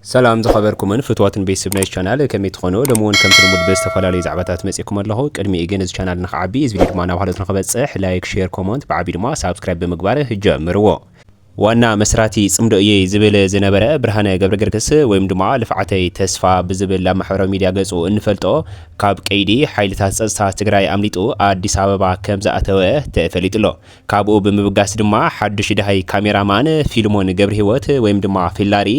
ሰላም ዝኸበርኩምን ፍትዋትን ቤት ስብ ናይዚ ቻናል ከመይ ትኾኑ ሎሚ ውን ከምቲ ልሙድ ብዝተፈላለዩ ዛዕባታት መጺእኩም ኣለኹ ቅድሚኡ ግን እዚ ቻናል ንኽዓቢ እዚ ቪድዮ ድማ ናብ ሃሎት ንኽበጽሕ ላይክ ሼር ኮሞንት ብዓቢኡ ድማ ሳብስክራይብ ብምግባር ጀምርዎ ዋና መስራቲ ጽምዶ እየ ዝብል ዝነበረ ብርሃነ ገብረገርግስ ወይም ድማ ልፍዓተይ ተስፋ ብዝብል ኣብ ማሕበራዊ ሚድያ ገጹ እንፈልጦ ካብ ቀይዲ ሓይልታት ጸጥታ ትግራይ ኣምሊጡ ኣዲስ ኣበባ ከምዝኣተወ ተፈሊጡ ኣሎ። ካብኡ ብምብጋስ ድማ ሓዱሽ ደሃይ ካሜራ ማን ፊልሞን ገብርሂወት ወይም ድማ ፊላሪ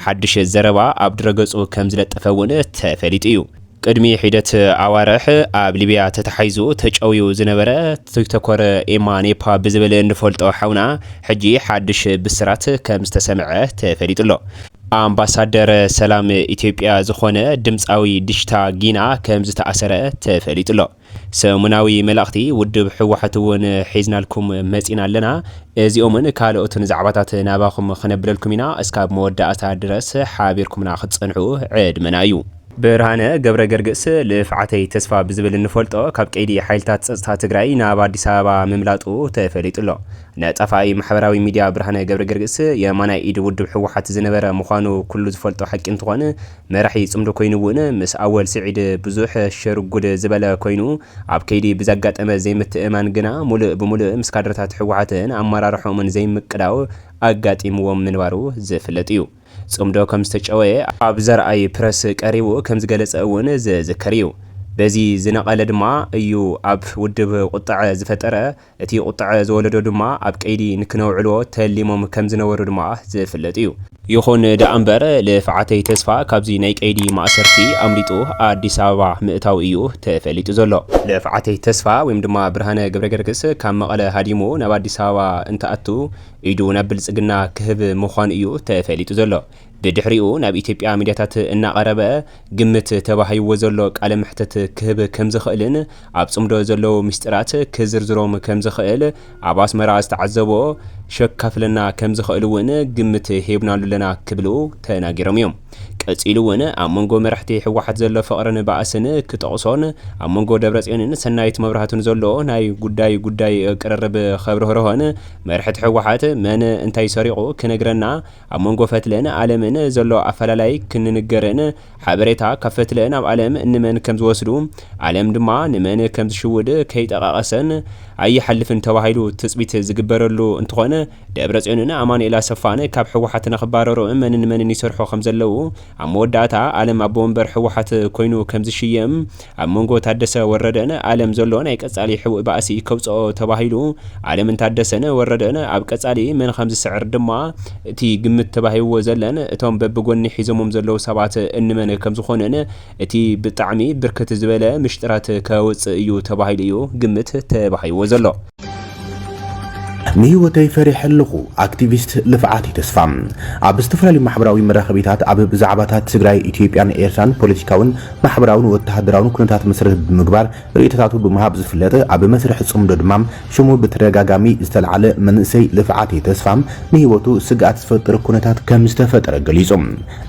ሓዱሽ ዘረባ ኣብ ድረገጹ ከምዝለጠፈ እውን ተፈሊጡ እዩ። ቅድሚ ሒደት ኣዋርሕ ኣብ ሊብያ ተታሒዙ ተጨውዩ ዝነበረ ቲክቶኮር ኤማ ኔፓ ብዝብል እንፈልጦ ሓውና ሕጂ ሓዱሽ ብስራት ከምዝተሰምዐ ተፈሊጡ ኣሎ። ኣምባሳደር ሰላም ኢትዮጵያ ዝኾነ ድምጻዊ ዲሽታ ጊና ከምዝተኣሰረ ተፈሊጡ ኣሎ። ሰሙናዊ መልእኽቲ ውድብ ህወሓት እውን ሒዝናልኩም መፂና ኣለና። እዚኦምን ካልኦትን ዛዕባታት ናባኹም ክነብለልኩም ኢና። እስካብ መወዳእታ ድረስ ሓቢርኩምና ክትፀንሑ ዕድመና እዩ። ብርሃነ ገብረገርግስ ልፍዓተይ ተስፋ ብዝብል እንፈልጦ ካብ ቀይዲ ሓይልታት ፀፅታ ትግራይ ናብ ኣዲስ ኣበባ ምምላጡ ተፈሊጡ ኣሎ። ነጣፋኢ ማሕበራዊ ሚድያ ብርሃነ ገብረገርግስ የማናይ ኢድ ውድብ ህወሓት ዝነበረ ምዃኑ ኩሉ ዝፈልጦ ሓቂ እንትኾን፣ መራሒ ጽምዶ ኮይኑ ውን ምስ ኣወል ስዒድ ብዙሕ ሸርጉድ ዝበለ ኮይኑ ኣብ ከይዲ ብዘጋጠመ ዘይምትእምማን ግና ሙሉእ ብሙሉእ ምስ ካድረታት ህወሓትን ኣመራርሕኦምን ዘይምቅዳው ኣጋጢምዎም ምንባሩ ዝፍለጥ እዩ። ጽምዶ ከምዝተጨወየ ኣብ ዘርኣይ ፕረስ ቀሪቡ ከምዝገለጸ እውን ዝዝከር እዩ። በዚ ዝነቐለ ድማ እዩ ኣብ ውድብ ቁጠዐ ዝፈጠረ። እቲ ቁጠዐ ዝወለዶ ድማ ኣብ ቀይዲ ንክነውዕሎ ተሊሞም ከምዝነበሩ ድማ ዝፍለጥ እዩ። ይኹን ደኣምበር ልፍዓተይ ተስፋ ካብዚ ናይ ቀይዲ ማእሰርቲ ኣምሊጡ ኣዲስ ኣበባ ምእታው እዩ ተፈሊጡ ዘሎ። ልፍዓተይ ተስፋ ወይም ድማ ብርሃነ ገብረገርግስ ካብ መቐለ ሃዲሙ ናብ ኣዲስ ኣበባ እንትኣቱ ኢዱ ናብ ብልፅግና ክህብ ምዃኑ እዩ ተፈሊጡ ዘሎ። ብድሕሪኡ ናብ ኢትዮጵያ ሚድያታት እናቐረበ ግምት ተባሂዎ ዘሎ ቃለ መሕትት ክህብ ከምዝኽእልን ኣብ ፅምዶ ዘለዉ ሚስጢራት ክዝርዝሮም ከምዝኽእል ኣብ ኣስመራ ዝተዓዘቦ ሸካፍለና ከምዝኽእል እውን ግምት ሂብናሉ ኣለና ክብሉ ተናጊሮም እዮም። ቀፂሉ እውን ኣብ መንጎ መራሕቲ ህወሓት ዘሎ ፍቕርን ባእስን ክጠቕሶን ኣብ መንጎ ደብረፅዮንን ሰናይት መብራህቱን ዘሎ ናይ ጉዳይ ጉዳይ ቅርርብ ከብርህርሆን መርሕቲ ህወሓት መን እንታይ ሰሪቑ ክነግረና ኣብ መንጎ ፈትለን ኣለምን ዘሎ ኣፈላላይ ክንንገርን ሓበሬታ ካብ ፈትለ ናብ ኣለም ንመን ከም ዝወስዱ ኣለም ድማ ንመን ከም ዝሽውድ ከይጠቓቐሰን ኣይሓልፍን ተባሂሉ ትፅቢት ዝግበረሉ እንትኾን ደብረፅዮንን ኣማኑኤል ኣሰፋን ካብ ህወሓት ንኽባረሩ መንን መንን ይሰርሑ ከም ዘለዉ ኣብ መወዳእታ ኣለም ኣቦ ወንበር ህወሓት ኮይኑ ከም ዝሽየም ኣብ መንጎ ታደሰ ወረደን ኣለም ዘሎ ናይ ቀጻሊ ሕቡእ ባእሲ ከውጽኦ ተባሂሉ ኣለምን ታደሰን ወረደን ኣብ ቀጻሊ መን ከምዝስዕር ድማ እቲ ግምት ተባሂብዎ ዘለን እቶም በብጎኒ ሒዞሞም ዘለዉ ሰባት እንመን ከምዝኾኑን እቲ ብጣዕሚ ብርክት ዝበለ ምሽጥራት ከውጽእ እዩ ተባሂሉ እዩ ግምት ተባሂብዎ ዘሎ። ንህይወተይ ፈሪሐ ኣለኹ ኣክቲቪስት ልፍዓተይ ተስፋ ኣብ ዝተፈላለዩ ማሕበራዊ መራኸቢታት ኣብ ብዛዕባታት ትግራይ፣ ኢትዮጵያን ኤርትራን ፖለቲካውን ማሕበራውን ወተሃደራውን ኩነታት መሰረት ብምግባር ርእይቶታቱ ብምሃብ ዝፍለጥ ኣብ መስርሕ ጽምዶ ድማ ሽሙ ብተደጋጋሚ ዝተልዓለ መንእሰይ ልፍዓተይ ተስፋ ንህይወቱ ስግኣት ዝፈጥር ኩነታት ከምዝተፈጠረ ገሊጹ።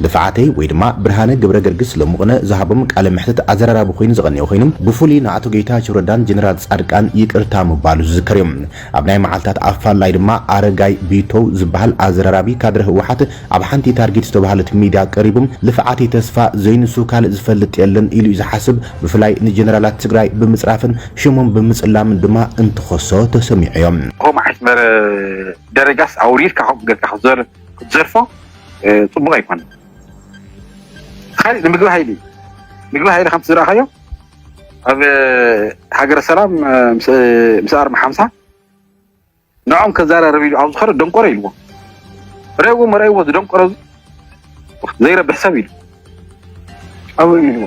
ልፍዓተይ ወይ ድማ ብርሃነ ገብረገርግስ ሎምቕነ ዝሃቦም ቃለ መሕትት ኣዘራራቢ ኮይኑ ዝቐንዮ ኮይኑ ብፉሉይ ንኣቶ ገይታቸው ረዳን ጀነራል ፃድቃን ይቅርታ ምባሉ ዝዝከር እዩ ኣብ ናይ መዓልታት ኣፋላይ ድማ ኣረጋይ ቢቶው ዝባሃል ኣዘራራቢ ካድረ ህወሓት ኣብ ሓንቲ ታርጊት ዝተባሃለት ሚድያ ቀሪቡ ልፍዓተይ ተስፋ ዘይንሱ ካልእ ዝፈልጥ የለን ኢሉ እዩ ዝሓስብ ብፍላይ ንጀነራላት ትግራይ ብምፅራፍን ሽሞም ብምፅላምን ድማ እንትኸሶ ተሰሚዑ እዩ። እኮ መዓስ ነበረ ደረጃስ ኣውሪድካ ከምኡ ገርካ ክትዞር። ክትዘርፎ ፅቡቅ ኣይኮነን ካሊእ ንምግቢ ሃይሊ ምግቢ ሃይሊ ከምቲ ዝረኣኻዮ ኣብ ሃገረ ሰላም ምስ ኣርሚ ሓምሳ ንዖም ከዘራርብ ኢሉ ኣብ ዝኸረ ደንቆሮ ኢልዎ ረእዎ መረእዎ ዝደንቆሮ ዘይረብሕ ሰብ ኢሉ ኣብኡ ኢልዎ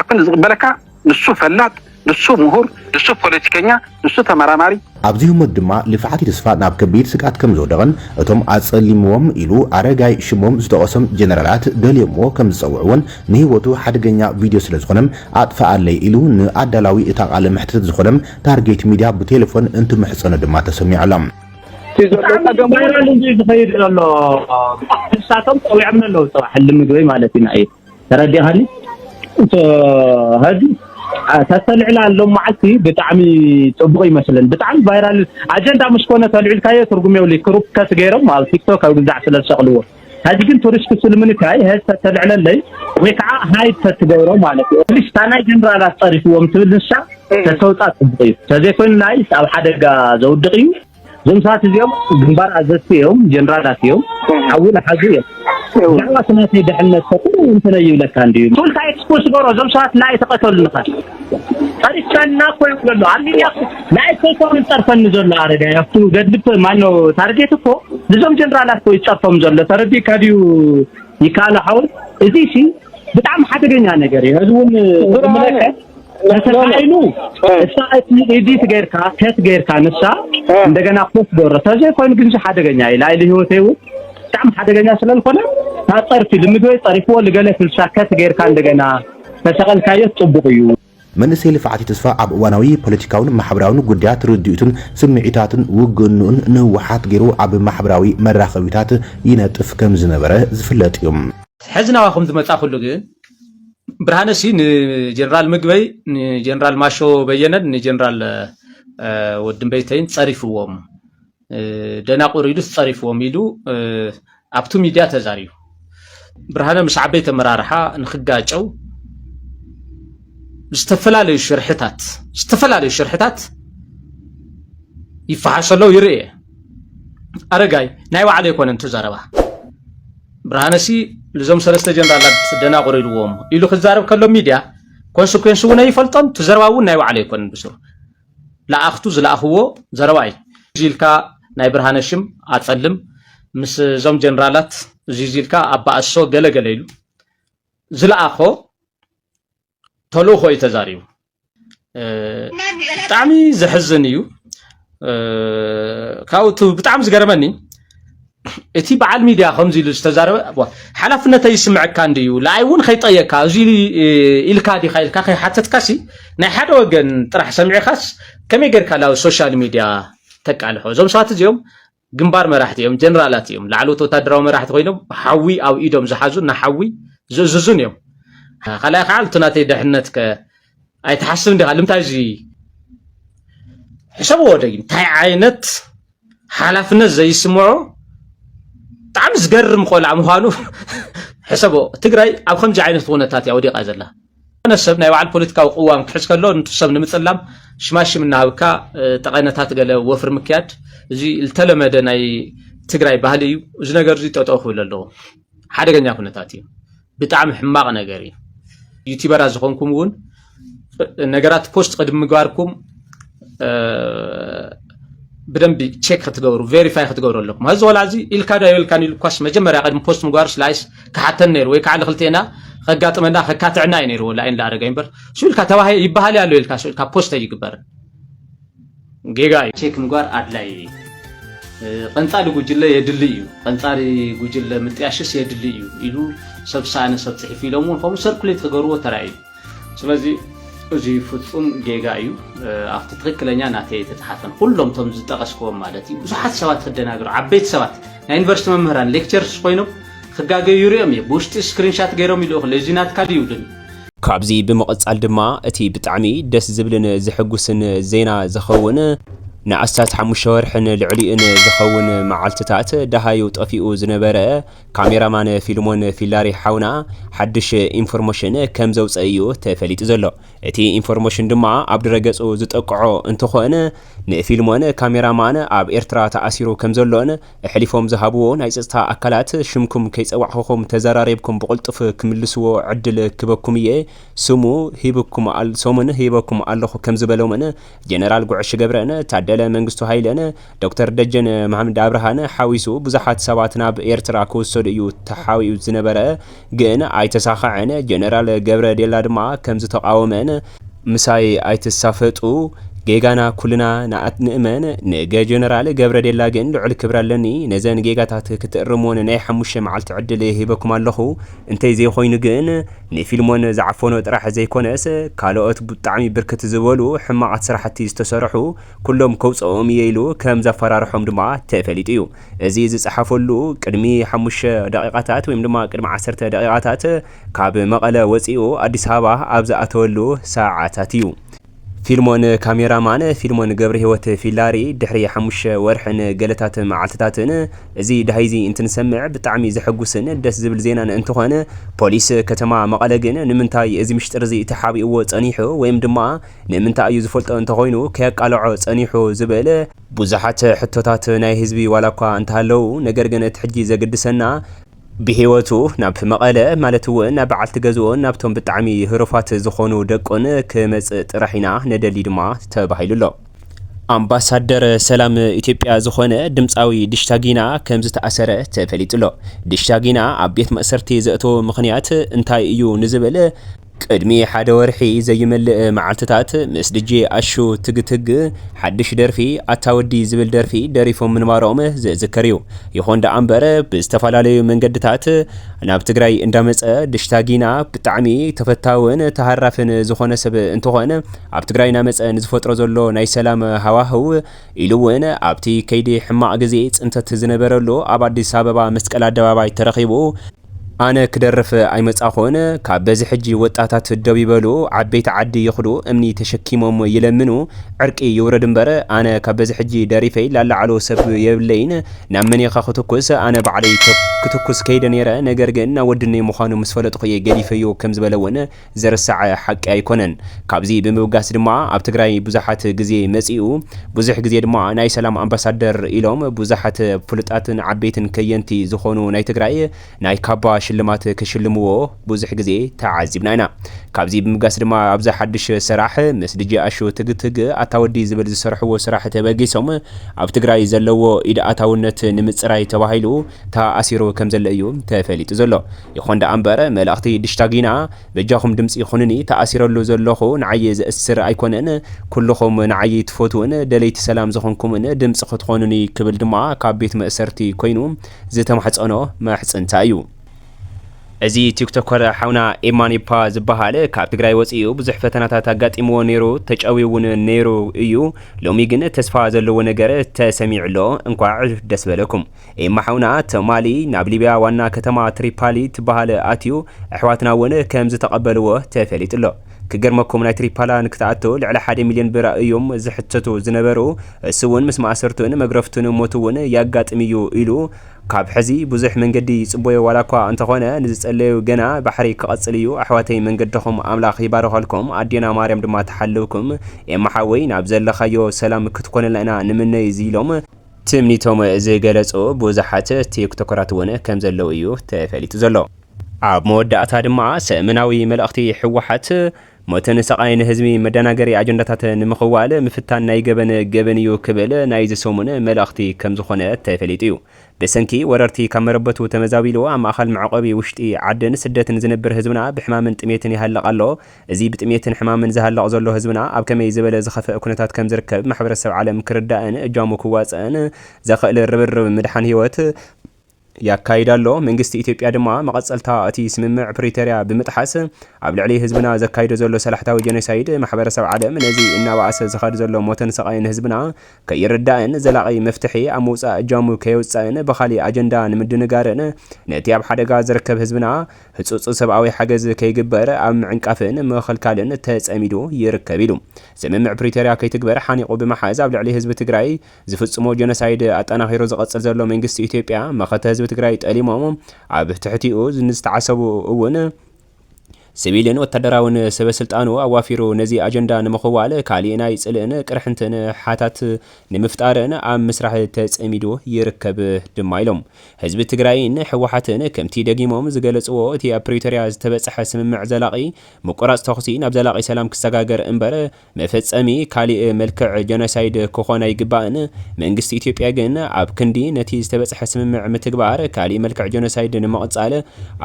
ኣክል ዝቕበለካ ንሱ ፈላጥ ንሱ ምሁር ንሱ ፖለቲከኛ ንሱ ተመራማሪ። ኣብዚ ህሞት ድማ ልፍዓት ተስፋ ናብ ከቢድ ስግኣት ከምዝወደቐን እቶም ኣጸሊምዎም ኢሉ ኣረጋይ ሽሞም ዝጠቐሶም ጀነራላት ደልዮምዎ ከምዝጸውዕዎን ንህይወቱ ሓደገኛ ቪድዮ ስለዝኾነም ኣጥፍኣለይ ኢሉ ንኣዳላዊ እታ ቃለ መሕትት ዝኾነም ታርጌት ሚድያ ብቴለፎን እንትምሕጸኖ ድማ ተሰሚዑ ኣሎ። እቲ ዘሎ ፀገም ቫይራል እንድዩ ዝኸይድ ዘሎ ንሳቶም ፀዊዖምኒ ኣለዉ ፅባሕ እሊ ምግበይ ማለት ኢና እዩ ተረዲኻኒ እቶ ሀዚ ተተልዕላ ኣሎ መዓልቲ ብጣዕሚ ፅቡቅ ይመስልን ብጣዕሚ ቫይራል ኣጀንዳ ምስ ኮነ ተልዕልካዮ ትርጉም የብሉ ክሩፕ ከት ገይሮም ኣብ ቲክቶክ ኣብ ግዛዕ ስለ ዝሰቅልዎ ሀዚ ግን ቱሪስት ስልምንካይ ሀዚ ተተልዕለለይ ወይ ከዓ ሃይድ ተትገብሮ ማለት እዩ ሊስ እታ ናይ ጀነራላት ፀሪፍዎም ትብል ንሳ ተተውፃ ፅቡቅ እዩ ተዘይኮይኑ ናይስ ኣብ ሓደጋ ዘውድቅ እዩ እዞም ሰባት እዚኦም ግንባር ኣዘዝቲ እዮም፣ ጀነራላት እዮም፣ ሓዊ ንሓዙ እዮም። ብዛዕባ እቲ ናተይ ድሕነት ከ ቁሩብ እንተነ ይብለካ እንድዩ። ቱልካ ኤክስፖስ በሮ እዞም ሰባት ናይ ተቀተሉ ንኸ ጠሪፍካና እኮ ይብሎ ኣሎ ኣብ ሚድያ ናይ ሰይኮም ዝጸርፈኒ ዘሎ ኣረጋይ ኣብቱ ገድሊ ማኖ ታርጌት እኮ ንዞም ጀነራላት እኮ ይጸርፎም ዘሎ ተረዲእካ ድዩ ይከኣሎ ሓወይ እዚ ሲ ብጣዕሚ ሓደገኛ ነገር እዩ እዚ እውን ዝምለከት ተተካኢሉ እሳ እቲ ኤዲት ገይርካ ከት ገይርካ ንሳ እንደገና ኮት ዶረ ተዘይ ኮይኑ ግን ሓደገኛ እዩ ላይሊ ህይወተይ እውን ብጣዕሚ ሓደገኛ ስለዝኾነ ታፀርፊ ልምዶይ ፀሪፍዎ ልገለ ፍልሳ ከት ገይርካ እንደገና ተሰቐልካዮ ፅቡቕ እዩ መንእሰይ ልፍዓት እዩ ተስፋ ኣብ እዋናዊ ፖለቲካውን ማሕበራውን ጉዳያት ርድኢቱን ስምዒታቱን ውግንኡን ንህወሓት ገይሩ ኣብ ማሕበራዊ መራኸቢታት ይነጥፍ ከምዝነበረ ዝፍለጥ እዩ። ሕዚ ናባኹም ዝመፃኹሉ ግን ብርሃነ ሲ ንጀነራል ምግበይ ንጀነራል ማሾ በየነን ንጀነራል ወድንበይተይን ፀሪፍዎም ደናቑር ኢሉስ ፀሪፍዎም ኢሉ ኣብቲ ሚድያ ተዛሪቡ ብርሃነ ምስ ዓበይቲ ኣመራርሓ ንክጋጨው ዝተፈላለዩ ሽርሕታት ዝተፈላለዩ ሽርሕታት ይፈሓሰለው ይርእ ኣረጋይ ናይ ባዕሉ ኣይኮነን ትዘረባ ብርሃነሲ ልዞም ሰለስተ ጀነራላት ደናቑር ኢልዎም ኢሉ ክዛረብ ከሎ ሚድያ ኮንስኩዌንስ እውን ኣይፈልጦን እቲ ዘረባ እውን ናይ ባዕሉ ኣይኮነን ብስሩ ለኣኽቱ ዝለኣኽዎ ዘረባ እዩ እዚ ኢልካ ናይ ብርሃነ ሽም ኣፀልም ምስ እዞም ጀነራላት እዚ ኢልካ ኣባእሶ ገለ ገለ ኢሉ ዝለኣኾ ተልእኾ እዩ ተዛሪቡ ብጣዕሚ ዘሕዝን እዩ ካብኡ ብጣዕሚ ዝገርመኒ እቲ በዓል ሚድያ ከምዚ ኢሉ ዝተዛረበ ሓላፍነተይ ይስምዐካ እንድዩ ንኣይ እውን ከይጠየቅካ እዚ ኢልካ ዲካ ኢልካ ከይሓተትካሲ ናይ ሓደ ወገን ጥራሕ ሰሚዕካስ ከመይ ጌርካ ናብ ሶሻል ሚድያ ተቃልሖ እዞም ሰባት እዚኦም ግንባር መራሕቲ እዮም፣ ጀነራላት እዮም፣ ላዕለዎት ወታደራዊ መራሕቲ ኮይኖም ሓዊ ኣብ ኢዶም ዝሓዙን ንሓዊ ዝእዝዙን እዮም። ካልኣይ ከዓ እቲ ናተይ ድሕነት ከ ኣይትሓስብ እንዲኻ ልምታይ እዚ ሕሰብዎ ደጊም እንታይ ዓይነት ሓላፍነት ዘይስምዖ ብጣዕሚ ዝገርም ቆልዓ ምዃኑ ሕሰቦ ትግራይ ኣብ ከምዚ ዓይነት ኩነታት እያ ወዲቃ ዘላ ዝኾነ ሰብ ናይ ባዕሉ ፖለቲካዊ ቅዋም ክሕዝ ከሎ ንቱ ሰብ ንምጽላም ሽማሽም እናሃብካ ጠቐነታት ገለ ወፍሪ ምክያድ እዚ ዝተለመደ ናይ ትግራይ ባህሊ እዩ። እዚ ነገር እዚ ጠጠው ክብል ኣለዎ። ሓደገኛ ኩነታት እዩ። ብጣዕሚ ሕማቕ ነገር እዩ። ዩቲበራት ዝኾንኩም እውን ነገራት ፖስት ቅድሚ ምግባርኩም ብደንቢ ቼክ ክትገብሩ ቬሪፋይ ክትገብሩ ኣለኩም እዚ ቆልዓ እዚ ኢልካ ዶ ኣይበልካን ኢሉ እኳስ መጀመርያ ቅድሚ ፖስት ምግባሩስ ላይስ ክሓተን ነይሩ ወይ ከዓ ንክልቴና ከጋጥመና ከካትዕና እዩ ነይርዎ ላይን ላኣረገ እምበር እሱ ኢልካ ተባሂ ይበሃል ኣሎ ኢልካ እሱ ኢልካ ፖስት ኣይግበርን ጌጋ እዩ ቼክ ምግባር ኣድላይ እዩ ቐንፃሊ ጉጅለ የድሊ እዩ ቐንፃሪ ጉጅለ ምጥያሽስ የድሊ እዩ ኢሉ ሰብ ሳእነ ሰብ ፅሒፉ ኢሎም እውን ከምኡ ሰርኩሌት ክገብርዎ ተራእዩ ስለዚ እዙይ ፍፁም ጌጋ እዩ። ኣብቲ ትክክለኛ ናተይ ተፅሓፈን ኩሎም እቶም ዝጠቀስክዎም ማለት እዩ ብዙሓት ሰባት ክደናገሩ ዓበይቲ ሰባት ናይ ዩኒቨርሲቲ መምህራን ሌክቸርስ ኮይኖም ክጋገዩ ይሪኦም እየ ብውሽጢ ስክሪንሻት ገይሮም ይልእኹ እዚ ናትካ ድዩ ይብሉኒ ካብዚ ብምቕጻል ድማ እቲ ብጣዕሚ ደስ ዝብልን ዘሐጉስን ዜና ዝኸውን ንኣስታት ሓሙሽተ ወርሕን ልዕሊኡን ዝኸውን መዓልትታት ደሃዩ ጠፊኡ ዝነበረ ካሜራ ማን ፊልሞን ፊላሪ ሓውና ሓድሽ ኢንፎርሞሽን ከም ዘውፀ እዩ ተፈሊጡ ዘሎ። እቲ ኢንፎርሞሽን ድማ ኣብ ድረገፁ ዝጠቅዖ እንትኾን ንፊልሞን ካሜራ ማን ኣብ ኤርትራ ተኣሲሩ ከም ዘሎን እሕሊፎም ዝሃብዎ ናይ ፀፅታ ኣካላት ሽምኩም ከይፀዋዕኹኹም ተዘራሪብኩም ብቕልጡፍ ክምልስዎ ዕድል ክበኩም እየ ስሙ ሂብኩም ሰሙን ሂበኩም ኣለኹ ከም ዝበሎምን ጀነራል ጉዕሽ ገብረን ታደለ መንግስቱ ሃይለን ዶክተር ደጀን መሃምድ ኣብርሃን ሓዊሱ ብዙሓት ሰባት ናብ ኤርትራ ክውሰዱ እዩ ተሓቢኡ ዝነበረ ግን ኣይተሳኸዐን ጀነራል ገብረ ዴላ ድማ ከምዝተቓወመን ምሳይ ኣይትሳፈጡ ጌጋና ኩልና ንእመን ንገ ጀነራል ገብረ ዴላ ግን ልዑል ክብሪ ኣለኒ ነዘን ጌጋታት ክትእርምወን ናይ ሓሙሽተ መዓልቲ ዕድል ሂበኩም ኣለኹ እንተይ ዘይኾይኑ ግን ንፊልሞን ዝዓፈኖ ጥራሕ ዘይኮነስ ካልኦት ብጣዕሚ ብርክት ዝበሉ ሕማቓት ስራሕቲ ዝተሰርሑ ኩሎም ከውፀኦም እየ ኢሉ ከም ዘፈራርሖም ድማ ተፈሊጡ እዩ። እዚ ዝፀሓፈሉ ቅድሚ ሓሙሽተ ደቒቓታት ወይም ድማ ቅድሚ ዓሰርተ ደቒቓታት ካብ መቐለ ወፂኡ ኣዲስ ኣበባ ኣብ ዝኣተወሉ ሰዓታት እዩ። ፊልሞን ካሜራ ማን ፊልሞን ገብረሂወት ፊላሪ ድሕሪ ሓሙሽተ ወርሕን ገለታት መዓልትታትን እዚ ዳሃይዚ እንትንሰምዕ ብጣዕሚ ዘሐጉስን ደስ ዝብል ዜናን እንትኾን ፖሊስ ከተማ መቐለ ግን ንምንታይ እዚ ምሽጥርዚ ተሓቢእዎ ፀኒሑ ወይም ድማ ንምንታይ እዩ ዝፈልጦ እንተኾይኑ ከየቃለዖ ፀኒሑ ዝብል ብዙሓት ሕቶታት ናይ ህዝቢ ዋላኳ እንተሃለው ነገር ግን እቲ ሕጂ ዘግድሰና ብህይወቱ ናብ መቐለ ማለት እውን ናብ በዓልቲ ገዝኡን ናብቶም ብጣዕሚ ህሩፋት ዝኾኑ ደቁን ክመፅእ ጥራሕ ኢና ንደሊ ድማ ተባሂሉ ኣሎ። ኣምባሳደር ሰላም ኢትዮጵያ ዝኾነ ድምፃዊ ዲሽታ ጊና ከምዝተኣሰረ ተፈሊጡ ኣሎ። ዲሽታ ጊና ኣብ ቤት ማእሰርቲ ዘእተዎ ምኽንያት እንታይ እዩ ንዝብል፣ ቅድሚ ሓደ ወርሒ ዘይመልእ መዓልትታት ምስ ድጄ ኣሹ ትግትግ ሓድሽ ደርፊ ኣታ ወዲ ዝብል ደርፊ ደሪፎም ምንባሮም ዝዝከር እዩ። ይኹን ደኣ እምበር ብዝተፈላለዩ መንገድታት ናብ ትግራይ እንዳመፀ ድሽታ ጊና ብጣዕሚ ተፈታውን ተሃራፍን ዝኾነ ሰብ እንትኾን ኣብ ትግራይ ናመፀ ንዝፈጥሮ ዘሎ ናይ ሰላም ሃዋህው ኢሉ እውን ኣብቲ ከይዲ ሕማቕ ግዜ ፅንተት ዝነበረሉ ኣብ ኣዲስ ኣበባ መስቀል ኣደባባይ ተረኺቡ ኣነ ክደርፍ ኣይመጻኹን ካብ በዚ ሕጂ ወጣታት ደው ይበሉ ዓበይቲ ዓዲ ይኽዱ እምኒ ተሸኪሞም ይለምኑ ዕርቂ ይውረድ እምበር ኣነ ካብ በዚ ሕጂ ደሪፈይ ላላዓሎ ሰብ የብለይን ናብ መንየኻ ክትኩስ ኣነ ባዕለይ ክትኩስ ከይደ ኔረ ነገር ግን ናወድነይ ምዃኑ ምስ ፈለጥኹ እየ ገዲፈዮ ከምዝበለ ውን ዝርሳዕ ሓቂ ኣይኮነን። ካብዚ ብምብጋስ ድማ ኣብ ትግራይ ብዙሓት ግዜ መጺኡ ብዙሕ ግዜ ድማ ናይ ሰላም ኣምባሳደር ኢሎም ብዙሓት ፍሉጣትን ዓበይትን ከየንቲ ዝኾኑ ናይ ትግራይ ናይ ካባ ሽልማት ክሽልምዎ ብዙሕ ግዜ ተዓዚብና ኢና። ካብዚ ብምብጋስ ድማ ኣብዚ ሓድሽ ሰራሕ ምስ ድጄ ኣሹ ትግ ትግ ኣታ ወዲ ዝብል ዝሰርሕዎ ስራሕ ተበጊሶም ኣብ ትግራይ ዘለዎ ኢድ ኣታውነት ንምጽራይ ተባሂሉ ተኣሲሩ ከምዘሎ እዩ ተፈሊጡ ዘሎ። ይኹን ደኣ እምበር መልእኽቲ ድሽታጊና በጃኹም ድምጺ ኩኑኒ ተኣሲረሉ ዘለኹ ንዓይ ዘእስር ኣይኮነን ኩሉኹም ንዓይ ትፈትዉን ደለይቲ ሰላም ዝኾንኩምን ድምጺ ክትኾኑኒ ክብል ድማ ካብ ቤት መእሰርቲ ኮይኑ ዝተማሕጸኖ ምሕጽንታ እዩ። እዚ ቲክቶከር ሓውና ኤማኒፓ ዝበሃል ካብ ትግራይ ወጺኡ ብዙሕ ፈተናታት ኣጋጢምዎ ኔሩ ተጨውዩ ውን ኔሩ እዩ ሎሚ ግን ተስፋ ዘለዎ ነገር ተሰሚዑ ኣሎ እንኳዕ ደስ በለኩም። ኤማ ሓውና ትማሊ ናብ ሊብያ ዋና ከተማ ትሪፓሊ ትበሃል ኣትዩ ኣሕዋትና ውን ከም ዝተቐበልዎ ተፈሊጡ ኣሎ ክገርመኩም ናይ ትሪፓላ ንክትኣቱ ልዕሊ ሓደ ሚልዮን ብር እዩም ዝሕተቱ ዝነበሩ እሱ ውን ምስ ማእሰርቱን መግረፍቱን ሞቱ ውን ያጋጥም እዩ ኢሉ ካብ ሕዚ ብዙሕ መንገዲ ይጽቦዮ ዋላኳ እንተኾነ ንዝጸለዩ ገና ባሕሪ ክቐጽል እዩ ኣሕዋተይ መንገድኹም ኣምላኽ ይባርኸልኩም ኣዴና ማርያም ድማ ትሓልውኩም ኤማ ሓወይ ናብ ዘለኻዮ ሰላም ክትኮነልና ኢና ንምነይ ኢሎም ትምኒቶም ዝገለፁ ብዙሓት ቲክቶከራት እውን ከምዘለዉ እዩ ተፈሊጡ ዘሎ። ኣብ መወዳእታ ድማ ሰእምናዊ መልእኽቲ ህወሓት ሞትን ስቓይን ህዝቢ መደናገሪ ኣጀንዳታት ንምኽዋል ምፍታን ናይ ገበን ገበን እዩ ክብል ናይዚ ሰሙን መልእኽቲ ከምዝኾነ ተፈሊጡ እዩ። ብሰንኪ ወረርቲ ካብ መረበቱ ተመዛቢሉ ኣብ ማእኸል መዕቖቢ ውሽጢ ዓድን ስደትን ዝነብር ህዝብና ብሕማምን ጥሜትን ይሃልቕ ኣሎ። እዚ ብጥሜትን ሕማምን ዝሃልቕ ዘሎ ህዝብና ኣብ ከመይ ዝበለ ዝኸፈኣ ኩነታት ከም ዝርከብ ማሕበረሰብ ዓለም ክርዳእን እጃሙ ክዋጸእን ዘኸእል ርብርብ ምድሓን ህይወት ያካይድ ኣሎ። መንግስቲ ኢትዮጵያ ድማ መቐጸልታ እቲ ስምምዕ ፕሪተርያ ብምጥሓስ ኣብ ልዕሊ ህዝብና ዘካይዶ ዘሎ ሰላሕታዊ ጀኖሳይድ ማሕበረሰብ ዓለም ነዚ እናበኣሰ ዝኸድ ዘሎ ሞትን ስቓይን ህዝብና ከይርዳእን ዘላቒ መፍትሒ ኣብ ምውጻእ እጃሙ ከየውጸእን ብኻሊእ ኣጀንዳ ንምድንጋርን ነቲ ኣብ ሓደጋ ዝርከብ ህዝብና ህጹጽ ሰብኣዊ ሓገዝ ከይግበር ኣብ ምዕንቃፍን ምኽልካልን ተጸሚዱ ይርከብ ኢሉ። ስምምዕ ፕሪቶርያ ከይትግበር ሓኒቑ ብምሓዝ ኣብ ልዕሊ ህዝቢ ትግራይ ዝፍጽሞ ጀኖሳይድ ኣጠናኺሩ ዝቐጽል ዘሎ መንግስቲ ኢትዮጵያ መኸተ ህዝቢ ትግራይ ጠሊሞም ኣብ ትሕቲኡ ንዝተዓሰቡ እውን ስቪልን ወታደራውን ሰበ ስልጣኑ ኣዋፊሩ ነዚ ኣጀንዳ ንምኽዋል ካሊእ ናይ ፅልእን ቅርሕንትን ሓታት ንምፍጣርን ኣብ ምስራሕ ተፀሚዱ ይርከብ ድማ ኢሎም። ህዝቢ ትግራይን ህወሓትን ከምቲ ደጊሞም ዝገለፅዎ እቲ ኣብ ፕሪቶሪያ ዝተበፀሐ ስምምዕ ዘላቒ ምቁራፅ ተኹሲ ናብ ዘላቒ ሰላም ክሰጋገር እምበር መፈጸሚ ካሊእ መልክዕ ጀኖሳይድ ክኾን ኣይግባእን። መንግስቲ ኢትዮጵያ ግን ኣብ ክንዲ ነቲ ዝተበጽሐ ስምምዕ ምትግባር ካሊእ መልክዕ ጀኖሳይድ ንምቕጻል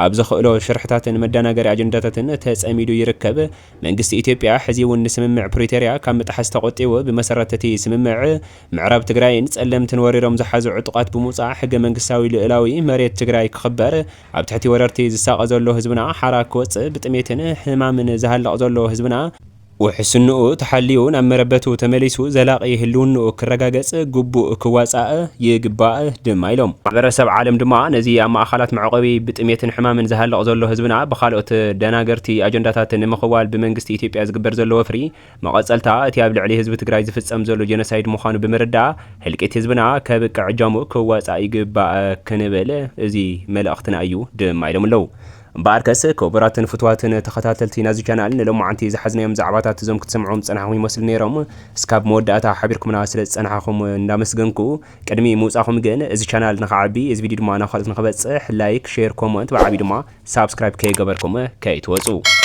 ኣብ ዘኽእሎ ሽርሕታትን መዳናገሪ ኣጀንዳታትን ተጸሚዱ ይርከብ። መንግስቲ ኢትዮጵያ ሕዚ'ውን ንስምምዕ ፕሪቶርያ ካብ ምጥሓስ ተቖጢቡ ብመሰረት እቲ ስምምዕ ምዕራብ ትግራይን ጸለምትን ወሪሮም ዝሓዙ ዕጡቓት ብምውጻእ ሕገመንግስታዊ ልኡላዊ መሬት ትግራይ ክኽበር ኣብ ትሕቲ ወረርቲ ዝሳቐ ዘሎ ህዝብና ሓራ ክወጽእ ብጥሜትን ሕማምን ዝሃልቕ ዘሎ ህዝብና ውሕስንኡ ተሓልዩ ናብ መረበቱ ተመሊሱ ዘላቒ ህልውንኡ ክረጋገፅ ግቡእ ክዋፃእ ይግባእ ድማ ኢሎም። ማሕበረሰብ ዓለም ድማ ነዚ ኣብ ማእኻላት መዕቖቢ ብጥሜትን ሕማምን ዝሃልቕ ዘሎ ህዝብና ብኻልኦት ደናገርቲ ኣጀንዳታት ንምኽዋል ብመንግስቲ ኢትዮጵያ ዝግበር ዘሎ ወፍሪ መቐፀልታ እቲ ኣብ ልዕሊ ህዝቢ ትግራይ ዝፍፀም ዘሎ ጀኖሳይድ ምዃኑ ብምርዳእ ህልቂት ህዝብና ከብቅዕ እጃሙ ክዋፃእ ይግባእ ክንብል እዚ መልእኽትና እዩ ድማ ኢሎም ኣለው። እምበኣርከስ ክቡራትን ፍትዋትን ተኸታተልቲ ናዚ ቻናል ንሎማዓንቲ ዝሓዝናዮም ዛዕባታት እዞም ክትሰምዕዎም ዝጸናሕኹም ይመስሉ ኔሮም እስካብ መወዳእታ ሓቢርኩምና ስለ ዝጸናሓኹም እንዳመስገንኩ ቅድሚ ምውጻኹም ግን እዚ ቻናል ንኽዓቢ እዚ ቪድዩ ድማ ናብ ካልኦት ንኽበጽሕ ላይክ ሼር ኮሞንት ብዓብዩ ድማ ሳብስክራይብ ከይገበርኩም ከይትወጹ